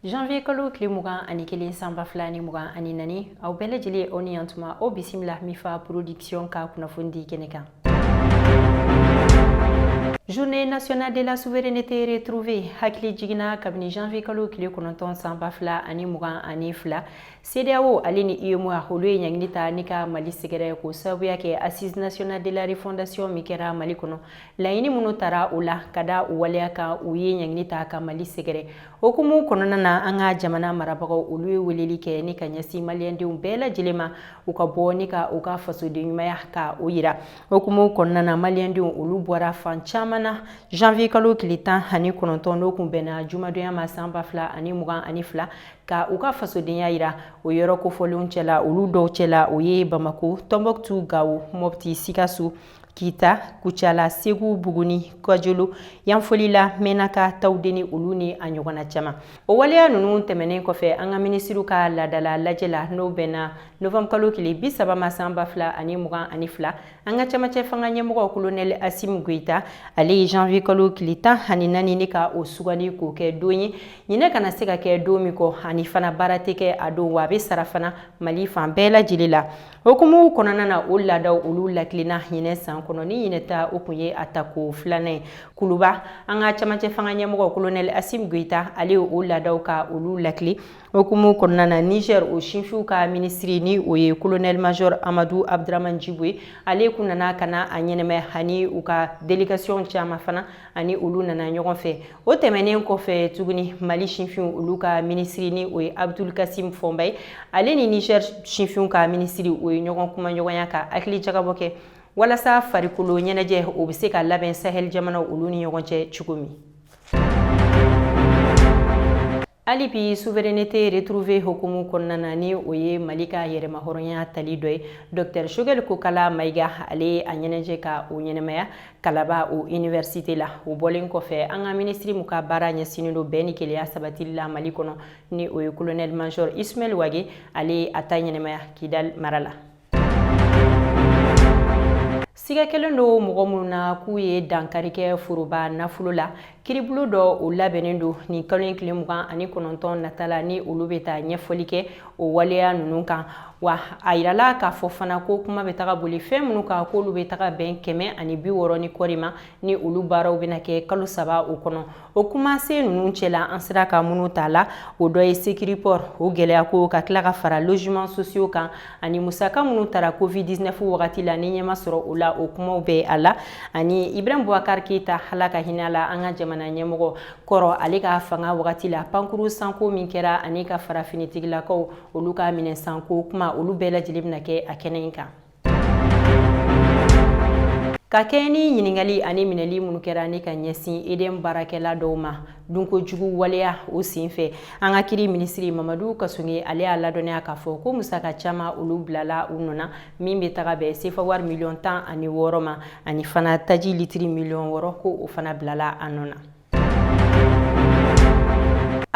janvier kalo tile mugan ani kelen san ba fila ni mugan ani naani aw bɛɛ lajɛlen aw ni yantuma o bisimila mifa production ka kunnafoni di kɛnɛ kan Journée nationale de la souveraineté retrouvée hakilijigin na kabini janvier kalo tile kɔnɔntɔn san ba fila ani mugan ani fila CEDEAO ale ni UEMOA olu ye ɲangili ta ni ka Mali sɛgɛrɛ k'o sababuya kɛ assise nationale de la refondation min kɛra Mali kɔnɔ laɲini minnu tara o la ka da o waleya kan u ye ɲangili ta ka Mali sɛgɛrɛ O hukumu kɔnɔna na an ka jamana marabagaw olu ye weleli kɛ ni ka ɲɛsin maliyɛndenw bɛɛ lajɛlen ma u ka bɔ ni ka u ka fasoden ɲumanya ka o yira o hukumu kɔnɔna na maliyɛndenw olu bɔra fan caman na janvier kalo tile tan ani kɔnɔntɔn n'o kun bɛnna jumadonya ma san ba fila ani mugan ani fila ka u ka fasodenya yira o yɔrɔ kofɔlenw cɛla olu dɔw cɛla o ye bamako tɔnbuktu gawo mɔpti sikaso kita kucala segu buguni kajolo yanfolila menaka tawudeni olu ni a ɲɔgɔnna caman o waleya ninnu tɛmɛnen kɔfɛ an ka minisiriw ka laadala lajɛ la n'o bɛnna novembre kalo kile bi saba ma san ba fila ani mugan ani fila an ka camancɛ fanga ɲɛmɔgɔ kolonɛli asimi goyita ale ye janvier kalo kile tan ani naani ni ka o sugandi k'o kɛ don ye ɲinɛ kana se ka kɛ don min kɔ ani fana baara tɛ kɛ a don wa a bɛ sara fana mali fan bɛɛ lajɛlen la O hukumu kɔnɔna na o laadaw olu lakilenna ɲinɛ san kɔnɔ ni ɲinɛ ta o kun ye a tako filanan ye kuluba an ka camancɛ fanga ɲɛmɔgɔ kolonɛli asim goyita ale ye o laadaw ka olu lakile o hukumu kɔnɔna na niger o sinfinw ka minisiri ni o ye kolonɛli major amadu abduraman jibo ye ale kun nana ka na a ɲɛnɛmaya ani u ka delegasiyɔn caman fana ani olu nana ɲɔgɔn fɛ o tɛmɛnen kɔfɛ tuguni mali sinfinw olu ka minisiri ni o ye abdul kasim fɔnba ye ale ni niger sinfinw ka minisiri o ye ɲɔgɔn kumaɲɔgɔnya ka hakili jagabɔ kɛ walasa farikolo ɲɛnajɛ o bɛ se ka labɛn sahɛli jamanaw olu ni ɲɔgɔn cɛ cogo min hali bi souveraineté retrouvée hukumu kɔnɔna na ni o ye mali ka yɛrɛmahɔrɔnya tali dɔ ye dr choguel kokala maiga ale a ɲɛnajɛ ka o ɲɛnɛmaya kalaba o université la o bɔlen kɔfɛ an ka minisiri mu ka baara ɲɛsinnen don bɛn ni kelenya sabatili la mali kɔnɔ ni o ye colonel major ismail wage ale a ta ɲɛnɛmaya kidal mara la siga kɛlen don mɔgɔ minnu na k'u ye dankari kɛ foroba nafolo la kiribulon dɔ o labɛnnen don nin kalo in tile mugan ani kɔnɔntɔn nata la ni olu bɛ taa ɲɛfɔli kɛ o waleya ninnu kan wa a yirala k'a fɔ fana ko kuma bɛ taga boli fɛn minnu kan k'olu bɛ taga bɛn kɛmɛ ani bi wɔɔrɔ ni kɔɔri ma ni olu baaraw bɛna kɛ kalo saba o kɔnɔ o kumasen ninnu cɛla an sera ka minnu ta la o dɔ ye Sécuriport o gɛlɛya ko ka tila ka fara logements sociaux kan ani musaka minnu tara covid 19 wagati la ni ɲɛ ma sɔrɔ o la o kumaw bɛ a la ani Ibrahim Boubacar Keita Ala ka hinɛ la an ka jamana ɲɛmɔgɔ kɔrɔ ale ka fanga wagati la pankuru sanko min kɛra ani ka fara finitigilakaw olu ka minɛn sanko kuma olu bɛɛ lajɛlen bɛna kɛ a kɛnɛ in kan ka kɛɲɛ ni ɲininkali ani minɛli minnu kɛra ni ka ɲɛsin EDM baarakɛla dɔw ma dunko jugu waleya o sen fɛ an ka kiri minisiri Mamadu Kassogué ale y'a ladɔnniya k'a fɔ ko musaka caman olu bilala u nɔ na min bɛ taga bɛn sefa wari miliyɔn tan ani wɔɔrɔ ma ani fana taji litiri miliyɔn wɔɔrɔ ko o fana bilala a nɔ na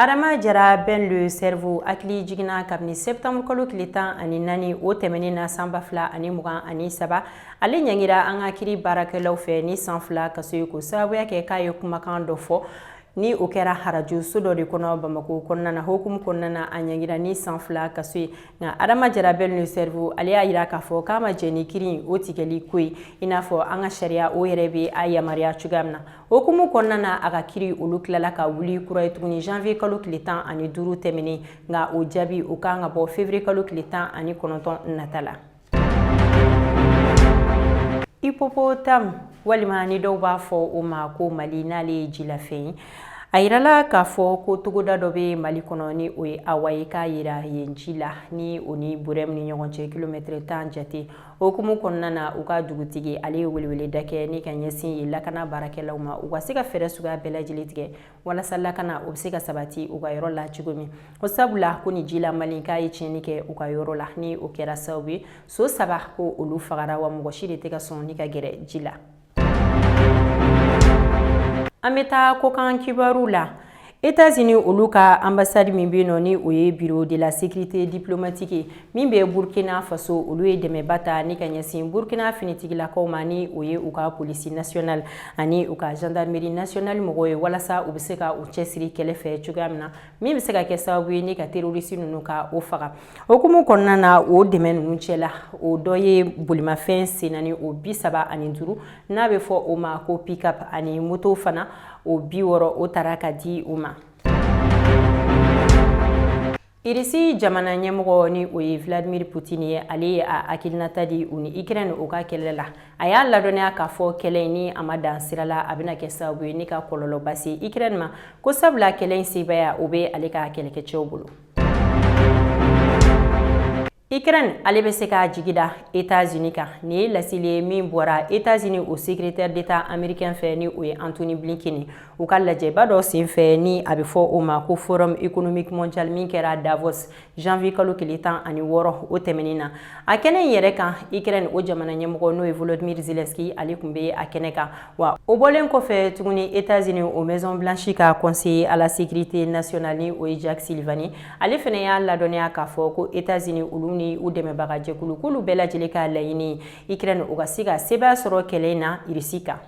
Adama jara Ben le cerveau hakilijigin na kabini septembre kalo tile tan ani naani o tɛmɛnen na san ba fila ani mugan ani saba ale ɲangira an ka kiri baarakɛlaw fɛ ni san fila kaso ye k'o sababuya kɛ k'a ye kumakan dɔ fɔ ni o kɛra arajoso dɔ de kɔnɔ bamako kɔnɔna na o hukumu kɔnɔna na a ɲangira ni san fila kaso ye nka adama jara Ben le cerveau ale y'a yira k'a fɔ k'a ma jɛn ni kiri o tigɛli ko ye i n'a fɔ an ka sariya o yɛrɛ bɛ a yamaruya cogoya min na O hukumu kɔnɔna na a ka kiri olu tilala ka wuli kura ye tuguni janvier kalo tile tan ani duuru tɛmɛnen nka o jaabi o kan ka bɔ février kalo tile tan ani kɔnɔntɔn nata la hippopotame walima ni dɔw b'a fɔ o ma ko mali n'ale ye jilafɛn ye a yirala k'a fɔ ko togoda dɔ bɛ mali kɔnɔ ni o ye Hawa ye k'a yera yen ji la ni o ni Bourem ni ɲɔgɔn cɛ kilomɛtɛrɛ tan jate O hukumu kɔnɔna na u ka dugutigi ale ye weleweleda kɛ ni ka ɲɛsin yen lakana baarakɛlaw ma u ka se ka fɛɛrɛ suguya bɛɛ lajɛlen tigɛ walasa lakana o bɛ se ka sabati u ka yɔrɔ la cogo min o sabula ko nin jila mali k'a ye tiɲɛni kɛ u ka yɔrɔ la ni o kɛra sababu ye so saba ko olu fagara wa mɔgɔ si de tɛ ka sɔn ni ka gɛrɛ ji la an bɛ taa kokan kibaru la Etats-Unis olu ka ambassade min bɛ nɔ ni o ye bureau de la sécurité diplomatique min bɛ Burkina faso olu ye dɛmɛba ta ni ka ɲɛsin Burkina finitigilakaw ma ni o ye u ka police nationale ani u ka gendarmerie nationale mɔgɔw ye walasa u bɛ se ka u cɛsiri kɛlɛ fɛ cogoya min na min bɛ se ka kɛ sababu ye ni ka terɔrisi ninnu ka o faga o hukumu kɔnɔna na o dɛmɛ ninnu cɛ la o dɔ ye bolimafɛn sen naani o bi saba ani duuru n'a bɛ fɔ o ma ko pick-up ani moto fana o bi wɔɔrɔ o tara ka di u ma irisi jamana ɲɛmɔgɔ ni o ye vladimir putini ye ale ye a hakilinata di u ni Ukraine o ka kɛlɛ la A y'a ladɔnniya k'a fɔ kɛlɛ in ni a ma dan sira la a bɛna kɛ sababu ye ni ka kɔlɔlɔba se Ukraine ma ko sabula kɛlɛ in sebaaya o bɛ ale ka kɛlɛkɛcɛw bolo. Ukraine ale bɛ se k'a jigi da Etats-Unis kan nin ye laseli ye min bɔra Etats-Unis o secrétaire d'État américain fɛ ni o ye Antony Blinken u ka lajɛba dɔ senfɛ ni a bɛ fɔ o ma ko Forum économique mondial min kɛra Davos janvier kalo tile tan ani wɔɔrɔ o tɛmɛnin na a kɛnɛ in yɛrɛ kan ukraine o jamana ɲɛmɔgɔ n'o ye volodymyr zelensky ale kun bɛ a kɛnɛ kan wa o bɔlen kɔfɛ tuguni etats-unis o maison blanche ka conseiller à la sécurité nationale ni o ye jake sullivan ale fɛnɛ y'a ladɔnniya k'a fɔ ko etats-unis olu ni u dɛmɛbaga jɛkulu k'olu bɛɛ lajɛlen ka laɲini ukraine o ka se ka sebaaya sɔrɔ kɛlɛ in na irisi kan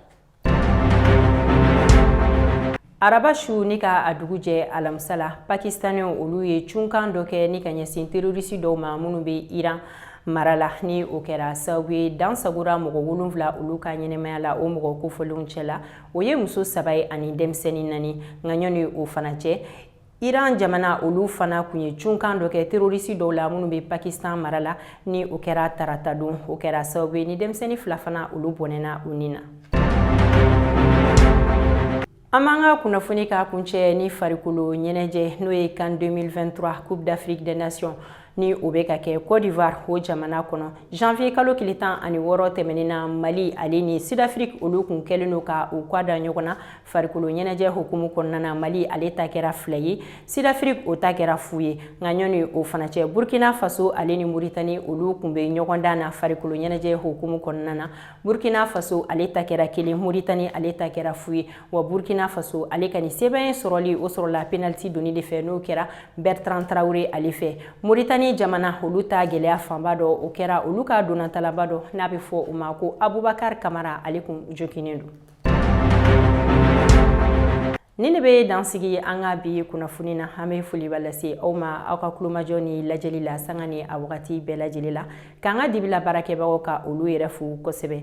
araba su ni ka a dugu jɛ alamisa la pakistanɛw olu ye cunkan dɔ kɛ ni ka ɲɛsin terorisi dɔw ma minnu bɛ iran mara la ni o kɛra sababu ye dan sagora mɔgɔ wolonfila olu ka ɲɛnɛmaya la o mɔgɔ kofɔlenw cɛ la o ye muso saba ye ani denmisɛnnin nani nka ɲɔni o fana cɛ Iran jamana olu fana kun ye cunkan dɔ kɛ terorisi dɔw la minnu bɛ Pakistan mara la ni o kɛra tarata don o kɛra sababu ye ni denmisɛnnin fila fana olu bɔnɛna u ni na. An b'an ka kunnafoni ka kuncɛ ni farikolo ɲɛnajɛ n'o ye CAN 2023 Coupe d'Afrique des Nations ni o bɛ ka kɛ Côte d'Ivoire o jamana kɔnɔ janvier kalo tile tan ani wɔɔrɔ tɛmɛnen na Mali ale ni Sud-Afrique olu kun kɛlen don ka u kwa da ɲɔgɔn na farikolo ɲɛnajɛ hukumu kɔnɔna na Mali ale ta kɛra fila ye Sud-Afrique o ta kɛra fu ye nka ɲɔni o fana cɛ Burkina Faso ale ni Mauritanie olu kun bɛ ɲɔgɔndan na farikolo ɲɛnajɛ hukumu kɔnɔna na Burkina Faso ale ta kɛra kelen Mauritanie ale ta kɛra fu ye wa burkina faso ale ka nin sebaaya sɔrɔli o sɔrɔla penaliti doni de fɛ n'o kɛra bertrand traore ale fɛ moritani jamana olu ta gɛlɛya fanba dɔ o kɛra olu ka ntolatannaba dɔ n'a bɛ fɔ o ma ko abubakar kamara ale kun joginnen don ni ne bɛ dan sigi an ka bi kunnafoni na an bɛ foliba lase aw ma aw ka kulomajɔ ni lajɛli la sanga ni a wagati bɛɛ lajɛlen la k'an ka dibi la baarakɛbagaw ka olu yɛrɛ fo kosɛbɛ